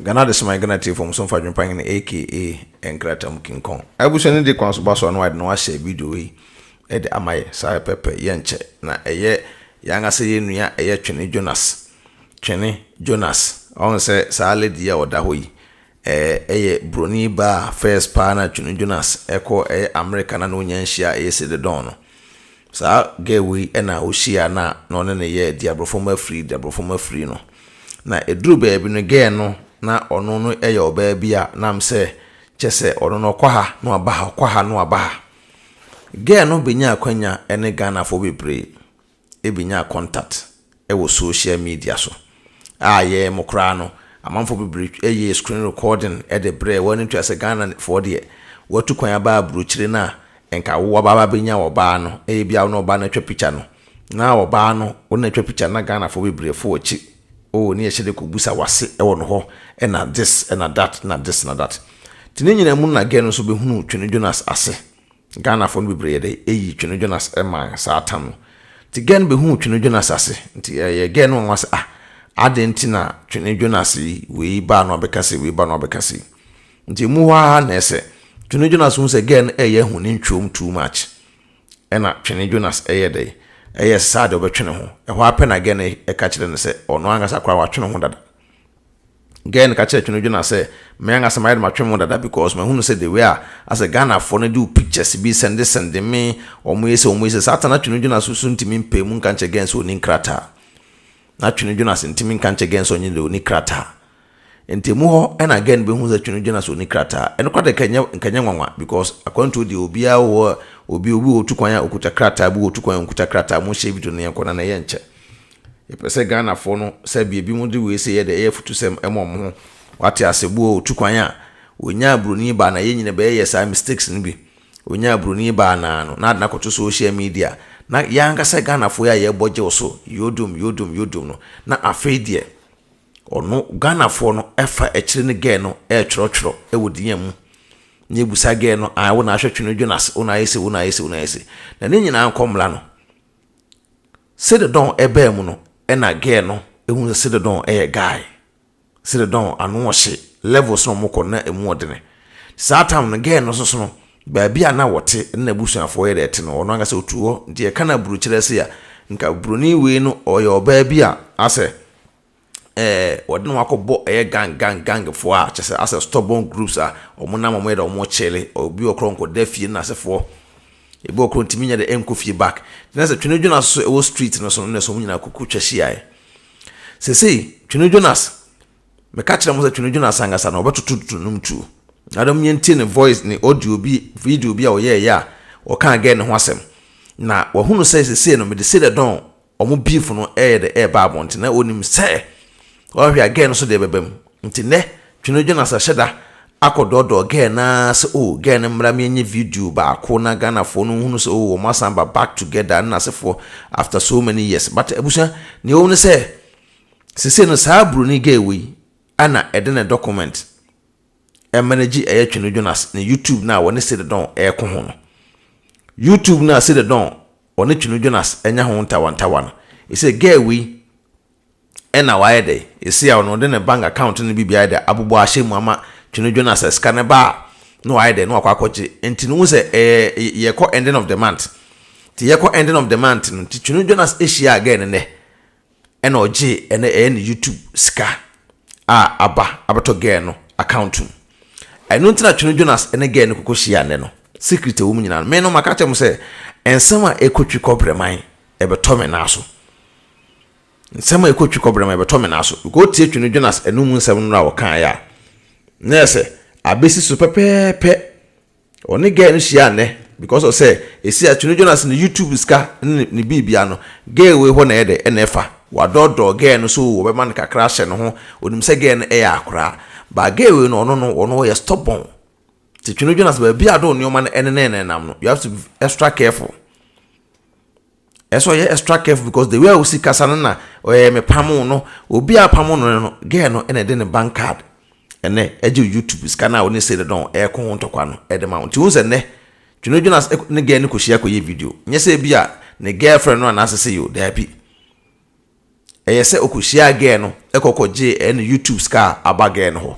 Ghana Adesamma yɛ Ghana Tiefo Mmuso Mfa Adwempa Hene, aka, nkrataa mu kinkɔn. Abusua no de kwan so ba so a na wɔayɛ dɛn ahyɛ video yi de ama yɛn? Saa pɛpɛ, yɛnkyɛ na ɛyɛ yɛn ankasa yɛn nua a ɛyɛ Twene Jonas. Twene Jonas, ɔho sɛ saa lady yi a ɔda hɔ yi, ɛyɛ buroni baa a first paa na Twene Jonas kɔ ɛyɛ America na na ɔnya nhyia a ɛyɛ Celedon no. Saa girl wei na ɔhyiaa no a na ɔne no yɛ diaborɔfam afiri diaborɔfam afiri no. Na ɛduru baabi no girl no na ɔno no yɛ ɔbaa bi a na am sɛ kyɛ sɛ ɔno no ɔkɔ ha na waba ha ɔkɔ ha na waba ha. Girl no bɛnya akwanya ne Ghanafoɔ bebree benya contact wɔ social media so a yɛn mo koraa no amanfoɔ bebree yɛɛ screen recording de brɛɛ wɔn ntua sɛ Ghana foɔ deɛ watu kwan aba abrokyire no a nka wo waba abɛnya ɔbaa no ɛyɛ bia wo ne ɔbaa no atwa picture no na ɔbaa no wo ne atwa picture na Ghana foɔ bebree fo akyi oh ne yɛhyɛ de kɔ busa wase wɔ no hɔ na this na that na this na that ti ne nyina mu na gɛ no nso bɛhunu Twene Jonas ase. Ghanafoɔ no bebree yɛ dɛ ɛyi Twene Jonas man saa tam no nti girl no bɛhuu Twene Jonas ase nti ɛyɛɛ girl no nwanwa sɛ ah adɛn nti na Twene Jonas yi wei baa no abɛka sei wei baa no abɛka sei nti ɛmu hɔ ara na ɛsɛ Twene Jonas hu sɛ girl no ɛyɛ ahu ne ntwom too much ɛna Twene Jonas ɛyɛ dɛ ɛyɛ saa deɛ ɔbɛtwe ne ho ɛhɔ ara pɛ na girl no ɛka kyerɛ no sɛ ɔno ankasa koraa watwe ne ho dada. Girl no ka kyerɛ Twenodwo na sɛ me ankasa mayɛ dɛ matwe me ho dada because mahunu sɛ the way a asɛ Ghanafoɔ no de wo pictures bi sɛnde sɛnde me, wɔyɛ sei wɔyɛ sei, saa ta na Twenodwo na so so ntumi mpae mu nka nkyerɛ Girl no sɛ ɔnni nkrataa. Na Twenodwo na se ntumi nka nkyerɛ Girl no sɛ ɔnye dɛ ɔnni krataa. Nti ɛmu hɔ na Girl no bɛhunu sɛ Twenodwo na sɛ ɔnni krataa. Ɛno koraa deɛ ɛnyɛ nka ɛnyɛ nwanwa because akwantuo deɛ obiara wɔ hɔ a obi obi wɔ tu kwan a ɔkuta krataa, obi wɔ tu kwan a ɔnkuta krataa, monhyɛ video no yɛnkɔ na na yɛnkyɛ. Yɛpɛ sɛ Ghanafoɔ no sɛdeɛ binom de wei sɛ yɛ deɛ ɛyɛ afutusɛm ma wɔn ho, wate aseɛ, bi wɔ hɔ ɔtu kwan a, ɔnyaa broni baa no a, yɛn nyina bɛyɛ yɛ saa mistakes no bi, ɔnyaa broni baa no a no, na ade no akɔto social media, na yɛn ankasa Ghanafoɔ yi a yɛbɔ gyew so, yodom, yodom, yodom no, na afei deɛ ɔno Ghanafoɔ no ɛfa akyire ne girl no ɛretwerɛ twerɛ ɛwɔ din a mu, na ɛbusa girl no ae wo na ahwɛ Twene Jonas, wo na ayɛ sei, wo na ayɛ sei, wo na ayɛ sei, na ne nyinaa nkɔ mmra no. Cededon baa mu no na girl no hu sɛ Cededon yɛ guy. Cededon ano ɔhye, levels na ɔmo kɔ no na emu ɔdene. Saa time no girl no nsoso no baabi a na ɔte ne n'abusuafoɔ yɛ dɛ te no ɔno ankasa ɔtu hɔ. Nti yɛka no aburukyerɛ sei a nka buroni wei no ɔyɛ ɔbaa bi a asɛ ɛɛ wɔde ne ho akɔbɔ ɛyɛ gang gang gangfoɔ a kyerɛ sɛ asɛ stɔbɔn groups a wɔnam wɔyɛ dɛ wɔrekyele obi wɔ korɔ nkɔda fie ne n'asefoɔ ebi wɔ korɔ ntumi nyɛ dɛ nkɔ fie back na sɛ Twene Jonas nso ɛwɔ street no so no na sɛ wɔn nyinaa kuku twa hyiaɛ seesei Twene Jonas meka kyerɛ mo sɛ Twene Jonas ankasa no ɔbɛtoto tutu nom tuo na dɛm yɛntie ne voice ne audio bi video bi a ɔyɛɛyɛ a ɔkaa gɛɛ ne ho asɛm na wɔahunu sɛ seesei no mede sei dɛ dɔn wɔn beef no reyɛ dɛ reba abɔnten. Na onim sɛ ɔhwɛ a girl no nso deɛ bɛba mu. Nti nnɛ Twene Jonas ahyɛ da akɔdɔɔdɔɔ girl no ara sɛ oh girl no mmra menyɛ video baako na Ghanafoɔ no nhunu sɛ oh wɔn asan aba back together ɛne n'asefoɔ after so many years. But abusua nea ɛwɔ mu ne sɛ seisei no saa buroni girl wei na ɛde ne document ɛma no gye ɛyɛ Twene Jonas ne YouTube no a wɔne Celedon reko ho no. YouTube no a Celedon ɔne Twene Jonas anya ho ntawantawa no, ɛsɛ girl wei ɛna wayɛ dɛ, ɛsɛ a ɔno de ne bank account no bi biara de abobɔ ahyɛ mu ama Twene Jonas a sika no ba a na wayɛ dɛ na wakɔ akɔgye. Nti no wo sɛ ɛɛ yɛkɔ ending of the month. Nti yɛkɔ ending of the month no nti Twene Jonas ɛhyiaa girl no nɛ. ɛna ɔgyee ɛnɛ ɛyɛ ne YouTube sika a aba abɛtɔ girl no account mu ɛno nti na Twene Jonas ɛne girl no koko hyia nnɛ no secret ɛwɔ mu nyinaa no me no maka kyɛ mo sɛ nsɛm a ɛkɔ twi kɔbrɛman ɛbɛtɔ me nan so nsɛm a ɛkɔ twi kɔbrɛman ɛbɛtɔ me nan so because tie Twene Jonas ɛno mu nsɛm no a wɔkaeɛ a na ɛsɛ abɛsi so pɛpɛɛpɛ Ɔne girl no hyia nnɛ because of sɛ ɛsi a Twene Jonas ne YouTube sika ne ne biribia no girl wei hɔ na ɛyɛ dɛ na ɛfa. Wadɔɔdɔɔ girl no so oo ɔbɛma no kakra ahyɛ ne ho ɔnim sɛ girl no ɛyɛ akoraa but girl wei no ɔno no ɔno ɔyɛ stubborn nti Twene Jonas baabi a ɔde wo nnoɔma no ɛnenɛnenam no you have to be extra careful. Ɛsɛ ɔyɛ extra careful because the way a osi kasa no na ɔyɛ me pamo no obi a pamo no no girl no ɛna ɛde ne bank card ɛnɛ ɛgye YouTube sika no a ɔne sɛ dɔn ɛko ho ntɔkwa no ɛde ma wo nti wo sɛ nnɛ Twene Jonas ne girl no kɔhyia kɔyɛ video nyɛ sɛ bi a ne girlfriend no anaasɛ sɛ yo daabi Ɛyɛ sɛ ɔkɔhyiaa gɛɛ no kɔ kɔ gyee ɛne YouTube sika a aba gɛɛ no hɔ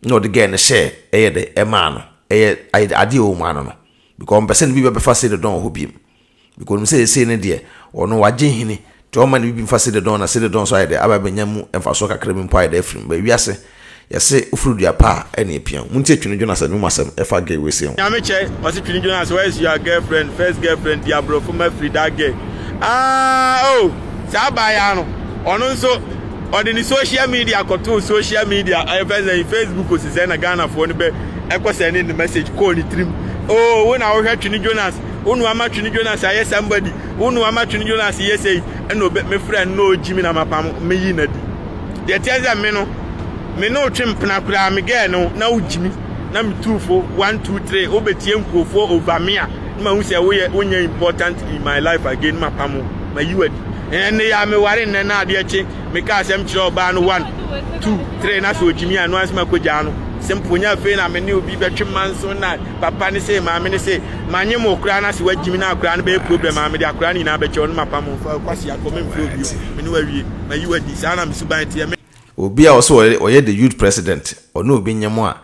na ɔde gɛɛ no hyɛɛ ɛyɛ dɛ ɛmaa no ɛyɛ adeɛ a ɔmaa no no because ɔmpɛ sɛ ne bibi abɛfa Celedon wɔ hɔ biom because ɔnim sɛ seesei no deɛ ɔno wagye nhini nti ɔmma ne bibi mfa Celedon na Celedon nso ayɛ dɛ aba abɛnya mu mfasoɔ kakra bi mpo ayɛ dɛ afiri mu but wiase Yɛse woforo dua pa a ɛna epia wo. Montie Twene Jonas anum asɛm ɛfa gay wei sei ho. Nyame kyɛ ɔse Twene Jonas where is your girlfriend first girlfriend di abrɔfo ma firi that girl aah oh saa abaayaa no ɔno nso ɔde ne social media kɔtoo social media ɛyɛ fɛ sɛn Facebook ose sɛn na Ghanafoɔ no bɛ ɛkɔ sɛn ne ne message kɔɔ ne tirim oh wo na wohwɛ Twene Jonas wo na wama Twene Jonas ayɛ somebody wo na wama Twene Jonas yɛ sei ɛna obe me frɛ no na ɔgyi me na mapam me yi na di Deɛ ɛteɛ sɛ me no, me ne wo twe mpena koraa, me girl no, na wogye me, na metu fo, one, two, three, wobɛtie nkurofoɔ over me a, na mahu sɛ woyɛ, wonyɛ important in my life again, na mapam wo, mayi wo adi. Ɛnne yi a meware nnɛ na adeɛ kye, mekaa asɛm kyerɛɛ ɔbaa no, one, two, three, na sɛ ɔgye me a, ɛno ara nso makɔgyaa no. Simple, nyɛ afei na me ne obi bɛtwe mmanso na papa ne sei, maame ne sei, manyem wo koraa na sɛ wagye me no a koraa no bɛyɛ problem a, mede akoraa no nyinaa bɛkyɛ wo na mapam wo, fa wo kwasea kɔ, memfrɛ wo bio, me ne wo awie. Mayi wo adi, saa ara na me suban teɛ. Me. Obi a ɔse ɔyɛ the youth president, ɔne obi nyem a,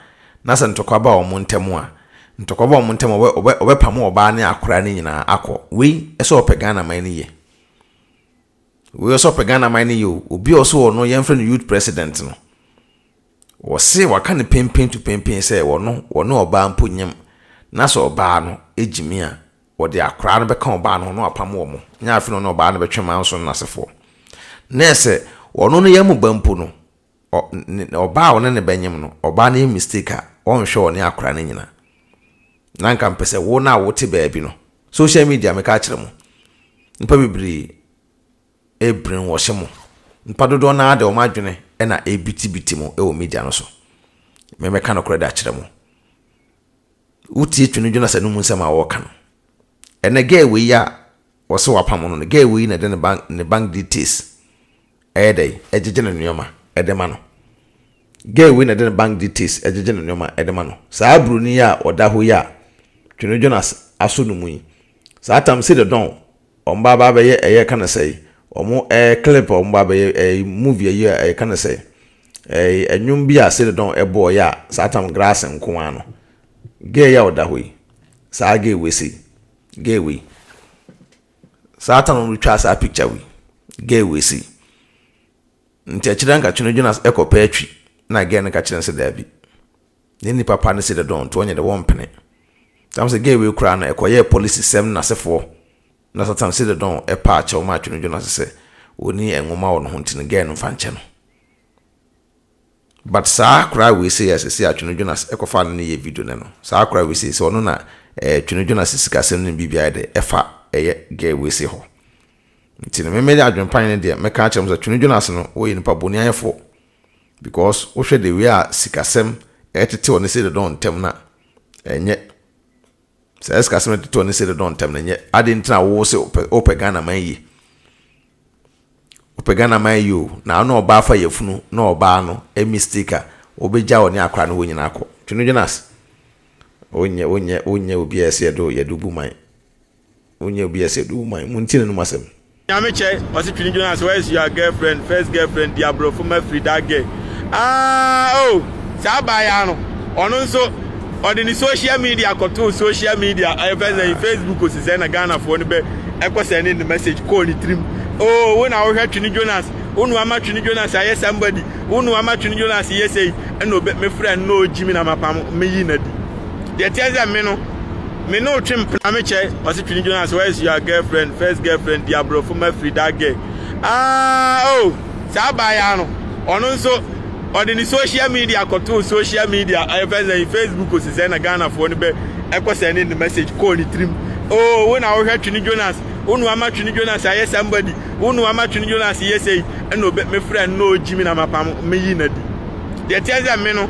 na sɛ ntɔkwa ba wɔn ntɛm a, ntɔkwa ba wɔn ntɛm a, ɔbɛ ɔbɛ pamo ɔbaa ne akoraa no nyinaa akɔ. Wei ɔsɛ ɔpɛ Ghana man no yie. Wei ɔsɛ ɔpɛ Ghana man no yie o. Obi a ɔse ɔno yɛn frɛ no youth president no, ɔse waka no penpen to penpen sɛ ɔno ɔne ɔbaa mpo nyem, na sɛ ɔbaa no gyimi a, Wɔde akwadaa no bɛka ɔbaa no ho na wɔapamo wɔn, na afei na ɔne ɔbaa no bɛtwe manso no asefoɔ. Na sɛ ɔno ne yam mu ba mpo no, ɔ, ne, ɔbaa a ɔne ne bɛnyem no, ɔbaa no yɛ mistake a, ɔnhwɛ ɔne akwadaa no nyina. Na nka mpɛ sɛ wo no a wote baabi no, social media meka akyerɛ mo, nipa bebree ɛbrenwɔhye mo, nipa dodoɔ no ara de wɔn adwene ɛna ɛbitibiti mo ɛwɔ media no so. Mɛmɛka nokorɛ de akyerɛ mo. Wotie Twene Jonas anom nsɛm a ɔreka no. Ɛnɛ guy wei a ɔse wapam no no, guy wei na ɛde ne bank ne bank details ɛyɛ dɛn ɛgyegye ne nneɛma ɛde ma no. Guy wei na ɛde ne bank details ɛgyegye ne nneɛma ɛde ma no. Saa broni yi a ɔda hɔ yi a Twene Jonas aso no mu yi, saa tam sɛ deɛ dɔn. Wɔn ba ba bɛyɛ ɛyɛ ka no sɛe wɔn ɛɛ clip wɔn ba bɛyɛ ɛɛ movie ɛyɛ ɛyɛ ka no sɛe ɛɛ ɛnwom bi a sede dɔn ɛbɔ ɔyɛ a saa tam grass nko ano gay a ɔda hɔ yi saa gay wei sei gay wei saa tam no twa saa picture wei gay wei sei nti ɛkyerɛ nka twene dwena ɛkɔ pɛ atwi na gay no ka kyerɛ sɛ daabi. Ne nnipa pa no si dɛ dɔn nti ɔnnyɛ dɛ wɔmmpene. Tam sɛ gay wei koraa no ɛkɔyɛɛ polisi sɛm no nasefoɔ na satan si dɛ dɔn ɛpaa kyɛw maa twene dwo no ase sɛ ɔnni ɛnwoma wɔ ne ho nti no gay no mfa nkyɛ no. But saa akoraa wei sei a sesei a twene dwo no ase ɛkɔfaa no no yɛɛ video nɛ no saa akoraa wei sei sɛ ɔno na ɛɛ twene dwo no ase sikasɛm no ne biribi ayɛ dɛ ɛfa ɛyɛ gay wei sei hɔ. Nti no me me adwenpan no deɛ mɛka akyerɛ mo sɛ twene dwo no ase no ɔyɛ nipa boni ayɛfoɔ. because wohwɛ the way a sikasɛm ɛtetew ne sɛ dodɔn ntɛm no a ɛnyɛ saa sikasɛm no ɛtetew ne sɛ dodɔn ntɛm no ɛnyɛ ade ntina a wowɔ sɛ wopɛ Ghana man yie wopɛ Ghana man yie o na ɔno ɔbaa fa yɛfunu na ɔbaa no ɛ mistake a wobɛgya wɔ ne akora no hɔ nyina akɔ twene dwene ase wonyɛ wonyɛ wonyɛ obi a ɛsɛ yɛde yɛde bu man Wonya obi a sɛ du wo man mu nti na nom asɛm. Nyame kyɛ ɔse twene Jonas where is your girlfriend first girlfriend di abrɔfo ma firi that girl aah oh saa baa yi ara no ɔno nso ɔde ne social media kɔtoo social media ɛfɛ sɛn Facebook osi sɛn na Ghana foɔ no bɛ ɛkɔ sɛn ne ne message kɔɔ ne tirim oh wo na wohwɛ twene Jonas wo na wama twene Jonas ayɛ somebody wo na wama twene Jonas yɛ sei ɛna obe me frɛ no na ɔgyi me na mapam me yi na di deɛ teɛ sɛ me no me ne otwe mpena me kyɛ ɔsi twene dwona sɛ where is your girlfriend first girlfriend di aborɔfo ma firi that girl aa ah, oh saa baa ya no ɔno nso ɔde ne social media kɔtoo social media ɛfɛ sɛ facebook osi sɛ na ghanafoɔ no bɛ ɛkɔ sɛ ne ne message kɔɔ ne tirim oo oh, wo na wohwɛ twene jonas wo na wama twene jonas ayɛ somebody wo na wama twene jonas yɛ sɛ ɛna ɔbɛ me frɛ no na ɔgyi me na mapam meyi na di deɛ teɛ sɛ me no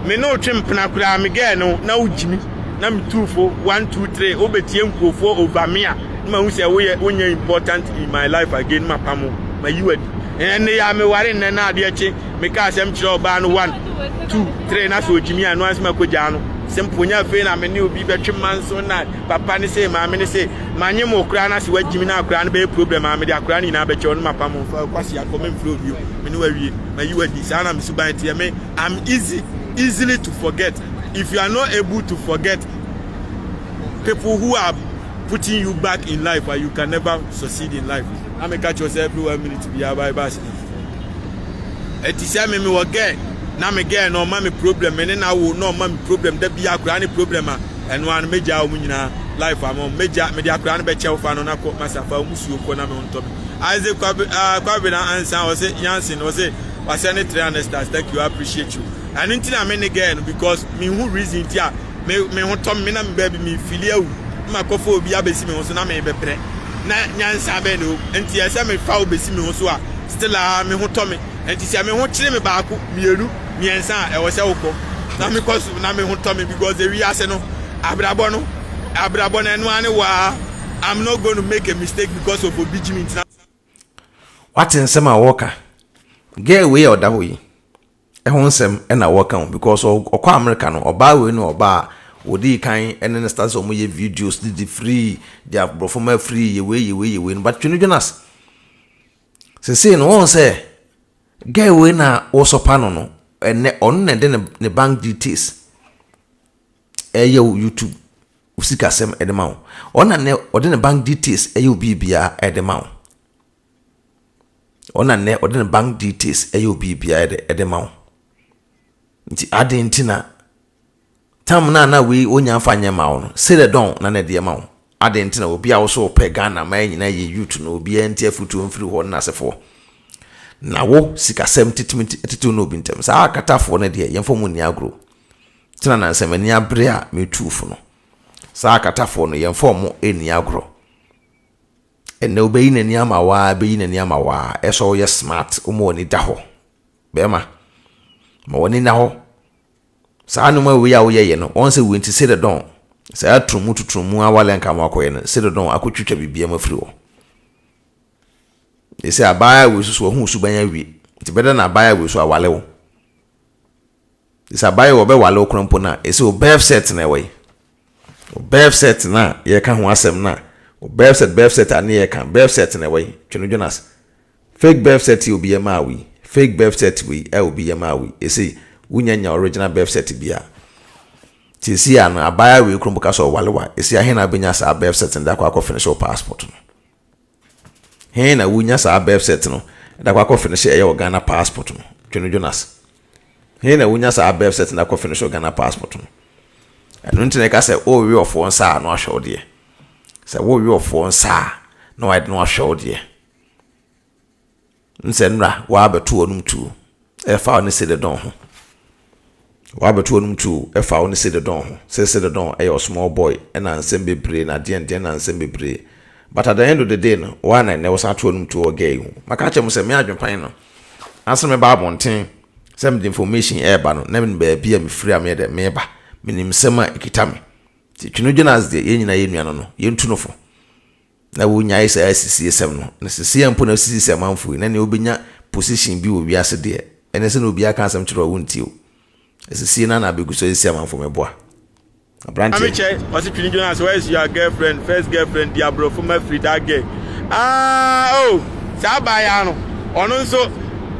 me ne wo twe mpena koraa me girl no na wo gyimi na me tu fo one two three wo betie nkurɔfoɔ over me a na ma hu sɛ wo yɛ wo nyɛ important in my life again ma pamo ma yi wadi ɛnne yɛ a me ware nnɛ na adeɛ kye me ka asɛm kyerɛ ɔbaa no one two three na sɛ ogyimi a no ansi ma kɔgyaa no simple nyɛ afei na me ne obi bɛtwe mma nso na papa ne se maame ne se manye mo koraa na sɛ wagyimi na akoraa no bɛyɛ problem a mede akoraa no nyinaa bɛkyɛ ɔno ma pamo fa kwasi akɔ memfrɛ obio me ne wawie mayi wo adi saa na me suban teɛ me i'm easy easily to forget if you are not able to forget people who are putting you back in life uh, you can never succeed in life na me catch yourself every one minute bi ya bye bye sleep ɛti sɛ me me wɔ gɛɛ na me gɛɛ na ɔma me problem me ne na wo na ɔma me problem da bi akora ne problem a ɛno ano megya wɔn nyinaa life ama wɔn megya mede akora no bɛkyɛw fa no na kɔ masafa wɔn suo kɔ na me ntɔ me Isaac Kwabe, ah, Kwabena Ansan, ɔse Yansen, ɔse wasɛ ne 300 stars, thank you, I appreciate you. Ɛno nti na me ne girl no because me hu reason nti a me me ho tɔ me na me baabi me fili awu. Ma kɔfa obi abɛsi me ho so na me bɛbrɛ. Na nyansa bɛn na ɛwɔ Nti ɛsɛ me fa wo bɛsi me ho so a still a me ho tɔ me. Nti sɛ me ho kyere me baako, mmienu, mmiɛnsa a ɛwɔ sɛ wokɔ. Na me kɔ so na me ho tɔ me because ewiase no abrabɔ no abrabɔ no ɛno ara ne wɔ a. Wate nsɛm a wɔka girl wei a ɔda hɔ yi ɛho nsɛm ɛna wɔka o because ɔkɔ America no ɔbaa wei no ɔbaa wɔdii kan ɛne ne start sɛ wɔn yɛ videos de de free de aborɔfo ma free yɛ wei yɛ wei yɛ wei no but Twene Jonas sesei no wɔn sɛ girl wei na wɔsɔpa no no ɛnɛ ɔno na ɛde ne bank details. ɛyɛ wo YouTube wo sikasɛm ɛde ma wo ɔna nɛ ɔde ne bank details ɛyɛ wo biribiara ɛde ma wo ɔna nɛ ɔde ne bank details ɛyɛ wo biribiara ɛde ɛde ma wo nti adan nti na tam na na wei onya nfa nyɛ ma wo no sɛ dɛ dɔn na na ɛde ma wo Adɛn nti na obi a wosɛ wopɛ Ghana man nyinaa yɛ youth no obiara nti afutuo mfiri hɔ ne nasefoɔ? Na wo sikasɛm titimi nti atitiw ne obi ntɛm? Saa akatafoɔ no deɛ yɛmfa wɔn nni agorɔ o. Kyena na nsɛ m'ani abere a metuu fo no. Saa akatafoɔ no yɛmfa wɔn nni agorɔ. Ɛnnɛ obeyi n'ani ama wo ara beyi n'ani ama wo ara ɛsɛ sɛ woyɛ smart woma w'ani da hɔ. Bɛɛma ma w'ani nna hɔ. Saa nnoɔma wei a woyɛeɛ no, wɔn sɛ wei nti Ceredon, saa aturumu tuturumu a woalɛnka ama wakɔyɛ no, Ceredon akɔtwitwa biribiara afiri hɔ. Enti sɛ abaayaa wei so so wahu wo suban awie, nti bɛda na abaayaa wei so awale wo. Nti sɛ abaayaa wei ɔbɛwale wo koraa mpo no a, ɛsɛ Oberfset na ɛwɔ yi. Befset no a yɛreka ho asɛm no a Befset Befset a ne yɛreka Befset no ɛwɔ he? Twe no Jonas Fake Befset yi obi yɛ maa wo yi Fake Befset wei a obi yɛ maa wo yi Ɛsei wonya nya original Befset biaa Seesei a no abaayaa wei krom bɛka sɛ ɔwale wo a ɛsei a he na wobɛnya saa Befset no de akɔ akɔ finish wo passport no? He na wo nya saa birth cert no da kɔ akɔ finish ɛyɛ wɔ Ghana passport no Twene Jonas He na wo nya saa birth cert no akɔ finish wɔ Ghana passport no Ɛno nti na ɛka sɛ o we ɔfoɔ nsa a na wahwɛ wo deɛ Sɛ wo we ɔfoɔ nsa a na wayɛ de na wahwɛ wo deɛ Nsɛnnora, Wɔabɛto wɔnom tuo ɛfa wo ne Celedon ho Wɔabɛto wɔnom tuo ɛfa wo ne Celedon ho sɛ Celedon yɛ ɔsmall boy ɛna nsɛm bebree na deɛn deɛn na nsɛm bebree But at the end of the day no woa na ɛnnɛ wosan to wɔnom tuo wɔ girl yi ho Maka akyerɛ mo sɛ me adwenpan no Ansa na mɛba abɔnten sɛ mede information ɛreba no na menim baabi a mefiri a meyɛ dɛn meba Menim nsɛm a ɛkita me Nti Twene Jonas deɛ yɛn nyinaa yɛ nua no no yɛntu no fo Na wonyae saa asisiesɛm no. Na seesei mpo na sisi sɛ amanfo yi, na nea obenya position bi wɔ wiase deɛ, ɛne sɛ na obiara ka asɛm kyerɛ wo a wontie o. Asisie no ara na abegu so asisi amanfo meboa. Aberanteɛ no. Maame kyɛ ɔse twene dwene ase where is your girlfriend first girlfriend di aborɔfo ma firi that girl aah oh saa abaayaa no ɔno nso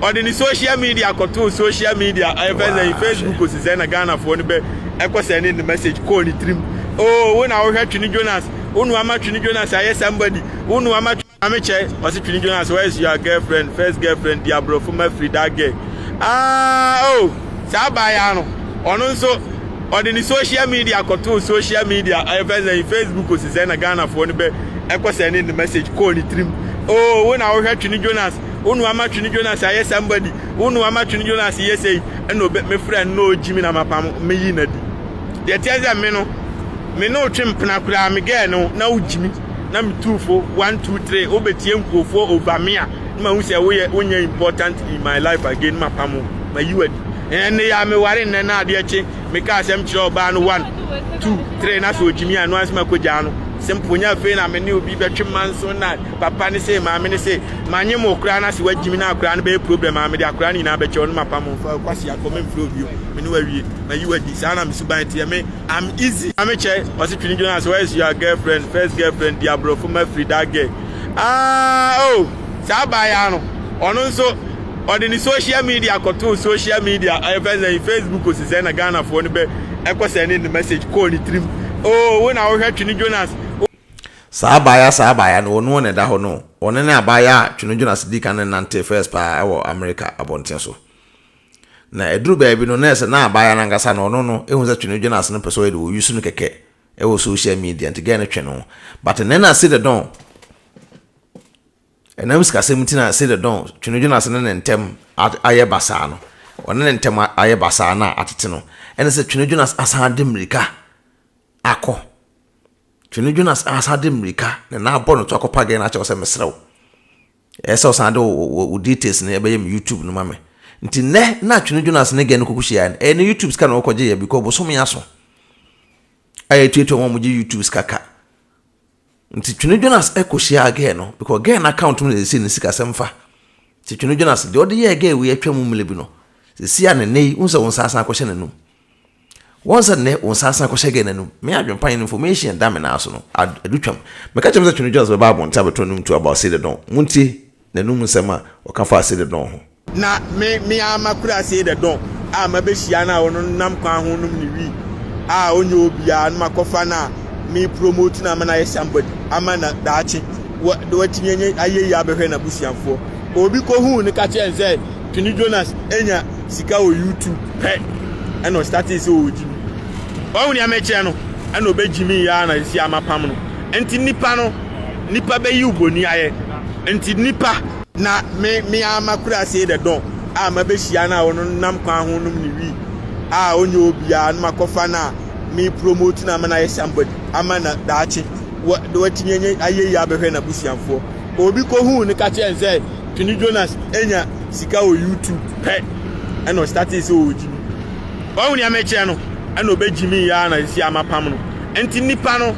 ɔde ne social media kɔtoo social media ɔyɛ fɛ sɛ facebook osi sɛ na ghanafoɔ no bɛ ɛkɔ sɛ ne ne message kɔɔ ne tirim oh wo na wohwɛ twene jonas wo nua ma twene jonas ayɛ somebody wo nua ma maame kyɛ ɔse twene jonas where is your girlfriend first girlfriend di aborɔfo ma firi that girl ah oh saa abaayaa no ɔno nso ɔde ne social media kɔtoo social media ɛfɛ sɛ facebook osi sɛ na ghanafoɔ no bɛ ɛkɔ sɛ ne ne message kɔɔ ne tirim oh wo na wohwɛ twene jonas wo nua ma twene jonas ayɛ somebody wo nua ma twene jonas yɛ sɛ ɛna ɔbɛ me frɛ no na ɔgyi me na mapam meyi na di Deɛ ɛteɛ sɛ me no, me ne wo twe mpena koraa, me girl no, na wogye me, na metu fo, one, two, three, wobɛtie nkurofoɔ over me a, na mahu sɛ woyɛ, wonyɛ important in my life again, na mapam wo, mayi wo adi. Ɛnɛ nnɛ yi ara, meware nnɛ na adeɛ kye, mekaa asɛm kyerɛɛ ɔbaa no, one, two, three, na sɛ ɔgye me a, ɛno ara nso makɔgyaa no. Simple, nyɛ afei na me ne obi bɛtwe manso na papa ne sei, maame ne sei, manyem wo koraa na sɛ wagye me na akoraa no bɛyɛ problem a, mede akoraa no nyinaa bɛkyɛ wo na mapam wo, fa wo kwasea kɔ, memfrɛ wo bio, me ne wo awie. ma yi wadi saa na me suban teɛ me am easy ame kyɛ ɔse twene dwene ase where is your girlfriend first girlfriend di aborɔfo ma firi that girl ah oh saa baa ya no ɔno nso ɔde ne social media kɔtoo social media ɛfɛ sɛ facebook osi sɛ na ghanafoɔ no bɛ ɛkɔ sɛ ne ne message kɔɔ ne tirim oh wo na wohwɛ twene jonas saa abaayaa saa abaayaa no ɔno na ɛda hɔ no ɔno ne abaayaa a twene jonas di kan ne nante first paa ɛwɔ america abɔnten so Na ɛduru baabi no, na ɛsɛ na abaayewa no ankasa no, ɔno no, ɛhu sɛ twe no dwene ase no pɛ sɛ ɔyɛ de, ɔyi so no kɛkɛ wɔ social media, nti gɛɛ no twe no. But ɛnɛ na Sida Dɔn, ɛnam sikasɛm nti na Sida Dɔn twe no dwene ase ne ne ntɛm ayɛ basaa no, ɔne ne ntɛm ayɛ basaa no a atete no, ɛne sɛ twe no dwene ase asan ade mmirika akɔ. Twe no dwene ase asan ade mmirika na na abɔ no to akɔpa gɛɛ no akyɛ wo sɛ meserɛ wo. Ɛyɛ sɛ ɔsan de wo details no ɛbɛyɛ me YouTube no ma me. Nti nɛ na Twene Jonas ne gɛ no kɔkɔ hyia no ɛyɛ ne YouTube sika na ɔkɔ gye yɛ because bosome aso a yɛtuatua wɔn a wɔgye YouTube sika ka. Nti Twene Jonas ɛkɔ hyia gɛ no because gɛ no account mu na ɛsɛ ne sika sɛm fa. Nti Twene Jonas deɛ ɔde yɛ gɛ wei atwa mu mmele bi no sɛsi a ne nɛ yi wo sɛ wo nsa asan akɔhyɛ n'anum. Wɔn sɛ nnɛ wo nsa asan akɔhyɛ Ghana no mu. Me adwempa ne information da me nan so no, adu twam. Meka kyerɛ me sɛ Twene Jones bɛba abɔnten abɛto n'anom tuo about Celie Dong. Montie n'anom nsɛm a ɔka faa Celie Dong ho. Na me, me ara makura Celie Dong a mabehyia no a ɔno nam kwan ho nom ne wii a ɔnyɛ obiara no makɔfa no a me promote no ama no ayɛ somebody ama no daakye watumi anya ayɛyie abɛhwɛ n'abusuafoɔ. Obi kɔhuu no ka kyerɛɛ no sɛ Twene Jonas nya sika wɔ YouTube pɛ na ɔstartee sɛ ɔɔgyim. Wahu nea mɛkyerɛ no na ɔbɛgyimii ara na seesei mapam no. Nti nnipa no, nnipa bɛyi wo bɔni ayɛ. Nti nnipa. Na me, me ara makura see the don a mabɛhyia no a ɔno nam kwan ho nom ne wii a ɔnyɛ obiara no makɔfa no a me promote no ama no ayɛ somebody ama na daakye watumi anya ayɛyie abɛhwɛ n'abusuafoɔ. Obi kɔhuu no ka kyerɛɛ no sɛ Twene Jonas nya sika wɔ YouTube pɛ na ɔstartee sɛ ɔɔgyimi. Wahu nea mɛkyerɛ no na ɔbɛgyimii ara na seesei mapam no. Nti nnipa no,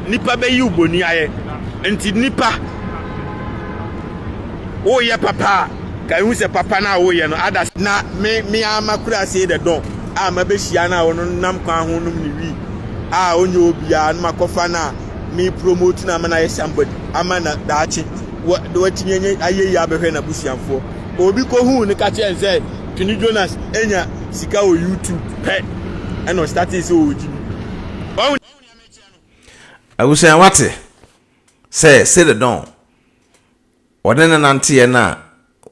nnipa bɛyi wo bɔni ayɛ. Nti nnipa, woreyɛ papa a, kae hu sɛ papa no a woreyɛ no ada. Na me, me ara m'akuraasee the Don a mabɛhyia no a ɔno nam kwan ho nom ne wii a ɔnyɛ obiara no makɔfa no a, me promote na ama no ayɛ somebody ama na daakye na watumi anya ayɛ yi abɛhwɛ n'abusuafoɔ obi kɔhuu no ka kyerɛ sɛ twene jonas anya sika wɔ youtube pɛ ɛna ɔstate sɛ ɔregye bi abusua wate sɛ sededɔn ɔne ne nanteɛ no a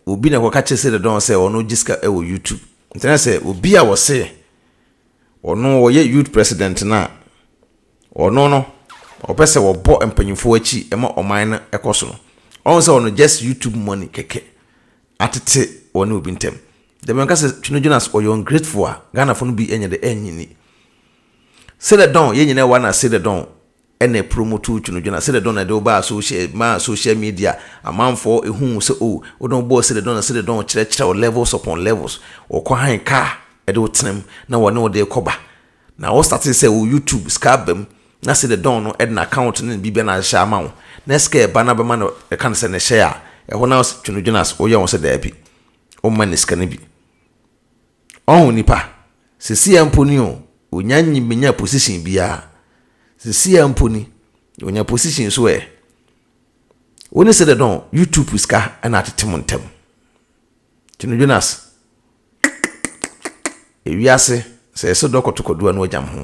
obi na ɛkɔka kyerɛ sededɔn sɛ ɔno gye sika wɔ youtube ntina sɛ obi a wɔse ɔno ɔyɛ youth president no a Ɔno no ɔpɛ sɛ wɔbɔ mpanyinfoɔ akyi ma ɔman no kɔ soro. Ɔhu sɛ ɔno just YouTube money kɛkɛ atete ɔne obi ntɛm. Deɛ mɛka sɛ Twene Jonas ɔyɛ ungrateful a Ghanafoɔ no bi nyɛ de ɛnyi ni. Celedon yɛn nyinaa wɔ ana Celedon ɛna ɛpromoto Twene Jonas. Celedon na ɛde wo baa social maa social media amanfoɔ ehuu sɛ oh wode wo bɔɔ Celedon na Celedon kyerɛkyerɛ wo levels upon levels. Ɔkɔ hann kaa ɛde wo tenam na wɔne wo de kɔba. Na wo startee sɛ wo YouTube sika aba mu na sɛ de dɔn no ɛde na account no ne biribia na ahyehyɛ ama wo na sika ɛba na bɛma no ɛka no sɛ ne hyɛ a ɛhɔ na twe no dwene as woyɛ ho sɛ daabi wo mma ne sika no bi ɔho nipa sesei a mpo ni o onya nyi menya position biaa sesei a mpo ni onya position so ɛ wo ne sɛ de dɔn YouTube sika ɛna atete mo ntɛm twe no dwene as. Ewiase sɛ yɛsɛ dɔ kɔto kwadu ano agyam ho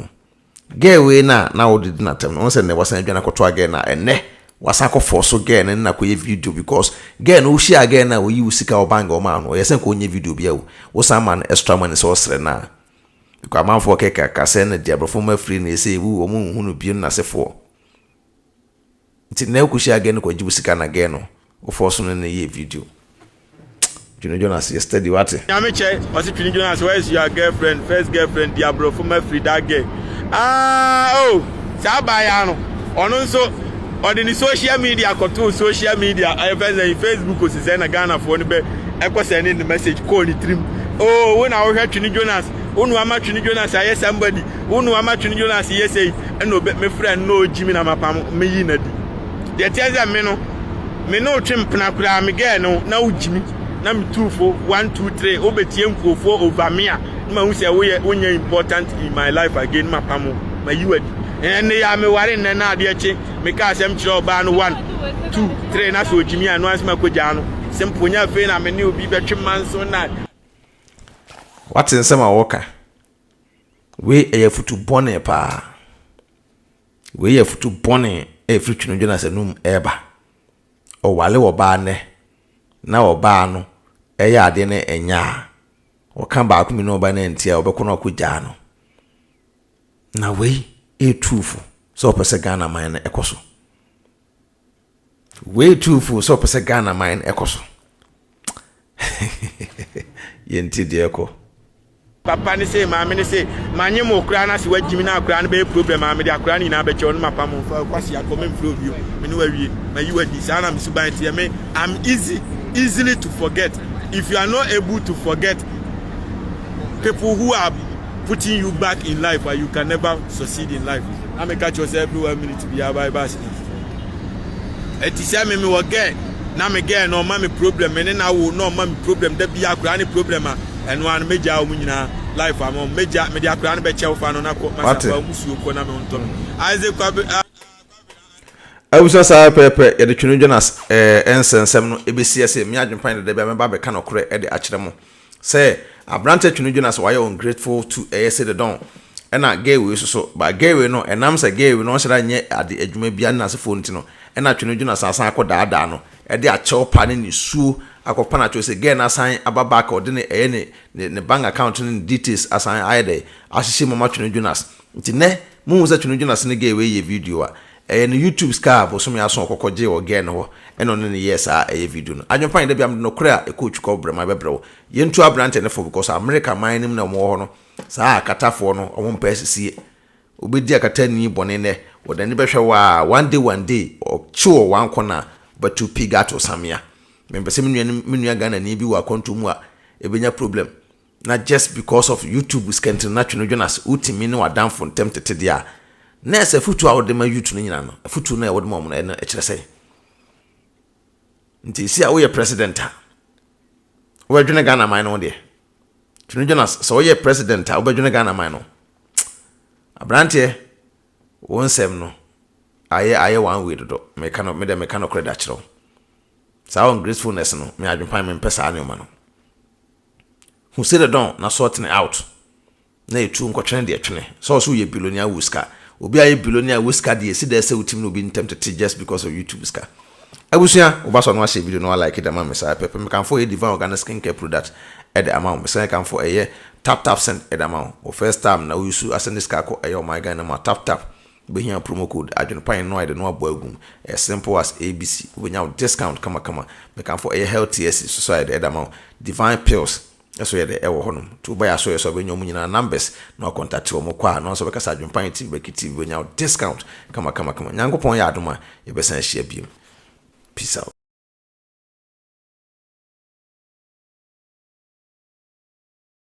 girl wei na na wode di n'atɛm no sɛ nɛ wasan adwane akɔtoa girl na ɛnɛ wasan akɔ fɔ so girl no na kɔyɛ video because girl no wohyia girl na oyi wo sika ɔbang ɔma no ɔyɛ sɛ nka ɔnyɛ video bia o wosan ma no extra money sɛ ɔsrɛ no a because amanfoɔ kɛkɛ akasɛ na deɛ abrɔfo ma afiri no ɛsɛ ewu wɔn nhunu bio no n'asefoɔ. Nti na wokohyia gɛ no kɔgye wo sika na gɛ no wo fɔɔso no ne yɛ video Twene Jonas yɛ study wate. Nyame kyɛ ɔse Twene Jonas where is your girlfriend first girlfriend di abrɔfo ma firi that gɛ aah oh saa abaayaa no ɔno nso ɔde ne social media kɔtoo social media ɛyɛ fɛn sɛn Facebook ose sɛn na Ghanafoɔ no bɛ ɛkɔ sɛn ne ne message kɔɔ ne tirim oh wo na wohwɛ Twene Jonas wo na wama Twene Jonas ayɛ somebody Wo nua ma twene Jonas yɛ sei ɛna obe me frɛ no na ogyi me na ma pam me yi na di. Deɛ teɛ sɛ me no me ne wo twe mpena koraa me gɛɛ no na wo gyi me na me tuu fo one two three wo bɛ tie nkurofoɔ over me a ne ma hu sɛ wo yɛ wo nyɛ important in my life again ne ma pam wo ma yi wa di. Ɛnne ya me ware nnɛ na adeɛ kye me ka asɛm kyerɛ ɔbaa no one two three na sɛ ogyi me a no ansi ma kɔ gyaa no simple nyɛ afei na me ne obi bɛtwe manso na Wate nsɛm a wɔka? Wei ɛyɛ afutu bɔne paa. Wei yɛ afutu bɔne a ɛfiri Twenedwene Asɛnnua mu ɛreba. Ɔware ɔbaa nnɛ na ɔbaa no ɛyɛ adeɛ na ɛnyɛ a, ɔka baako mmienu a ɔbaa no antie a ɔbɛkɔ na wakɔ gyaa no. Na wei ɛretu fo sɛ ɔpɛ sɛ Ghana man no ɛkɔ so. Wei too fo sɛ ɔpɛ sɛ Ghana man no ɛkɔ so. Yɛnti deɛ ɛkɔ. Papa ne se maame ne se manye mo koraa na se wagyimi na akoraa no bɛyɛ problem a mede akoraa no nyinaa bɛkyɛ ɔno mapa mo mfa kwasi akɔ me mfrɛ obi o me ne wawie mayi wadi saa na me suban teɛ me I'm easy easily to forget if you are not able to forget people who are putting you back in life you can never succeed in life na meka kyerɛ sɛ every one minute biara bible accident ɛte sɛ me mewɔ girl na me girl na ɔma me problem me ne na wo na ɔma me problem da bia akora ne problem a ɛno ano megya wɔn nyinaa life ama wɔn megya mede akora no bɛkyɛ wo fa no na kɔ masa fa wɔn suo kɔ na me ntɔ isaac kwabe a. awusa saa pɛpɛ yɛde twene jonas ɛɛ eh, nsɛnsɛm no ebesi ɛsɛ mi adwempan dada bi a mɛba abɛka nɔkorɛ ɛde akyerɛ mo. Sɛ aberantsɛ twe no dwo na sɛ ɔayɛ ungrateful too ɛyɛ sede dɔn. Ɛna gay wei so so. But gay wei no ɛnam sɛ gay wei no ɔnhyɛ da nnyɛ ade adwuma biara ne n'asefoɔ ntsi no ɛna twe no dwo na sɛ asan akɔ daadaa no ɛde akyɛw pa ne nisuo akɔ pa na kyerɛ sɛ gay no asan aba back ɔde ne ɛyɛ ne ne bank account ne ne details asan ayɛ dɛ ahyehyɛ mu ɔma twe no dwo na Nti nnɛ muhu sɛ Twene Jonas ne gay wei yɛ video a, ɛyɛ ne YouTube sika a bosome ason ɔkɔkɔ gyee wɔ gɛɛ no hɔ ɛna ɔne no yɛɛ saa ɛyɛ video no. Adwen pa nyɛ da biaa mede nokorɛ a ɛkɔ otwi kɔ brɛma bɛbrɛ wo. Yɛntu abrantɛ no fo because America man no mu na ɔmo wɔ hɔ no saa akata foɔ no ɔmo mpɛ asisie. Wobɛdi akata ni bɔne nnɛ wɔde ani bɛhwɛ wo aa one day one day ɔkye wɔ one corner wobɛto pig ato samea. Mempɛ sɛ me nua ne me nua Ghanani bi wɔ akwantuo mu a ɛbɛnya problem. na just because of YouTube skɛntene na twene dwene ase wotumi ne w'adamfo ntɛm tete deɛ a, na ɛsɛ afutuo a wode ma youth no nyina no, afutuo no a wode ma wɔn no ɛno ɛkyerɛ sɛn? Nti esi a woyɛ president a, wobɛdwene Ghana man no ho deɛ. Twene dwene ase, sɛ woyɛ president a, wobɛdwene Ghana man no. Aberanteɛ, wo nsɛm no, ayɛ ayɛ one way dodo meka no medɛ meka no korɛ da kyerɛ wo saa ungratefulness no me adwempan me mpɛ saa nneɛma no Hu sɛ dɛ dɔn na sorting out na etu nkɔtwene deɛ twene sɛ ɔsɛ woyɛ bilonia wo sika obi ayɛ bilonia wo sika deɛ esi dɛ sɛ wotim no obi ntɛm tete just because of YouTube sika abusua woba sɔ no ahyɛ video no wa like de ama me saa pɛpɛ mekamfo ɛyɛ divine organic skin care product ɛde ama wo mesan kamfo ɛyɛ tap tap send ɛde ama wo wo first time na wo yusu asɛne sika akɔ ɛyɛ ɔman Ghana mu a tap tap Wobɛhia promo code adwenepan no a yɛde no abɔ agu mu. Ɛyɛ simple as ABC. Wobɛnya wo discount kamakama. Mekamfo ɛyɛ Healthiest so so a yɛde ɛda ma wo. Divine Pills so yɛde ɛwɔ hɔ nom. Nti woba yɛ asoeɛ so a wobɛnya wɔn nyinaa numbers na woakɔntate wɔn. Wokɔ a na wɔn nso bɛka sɛ Adwenepan TV bɛki TV. Wobɛnya wo discount kamakamakama. Nyankopɔn yɛ adom a yɛbɛsan ahyia biom. Peace out.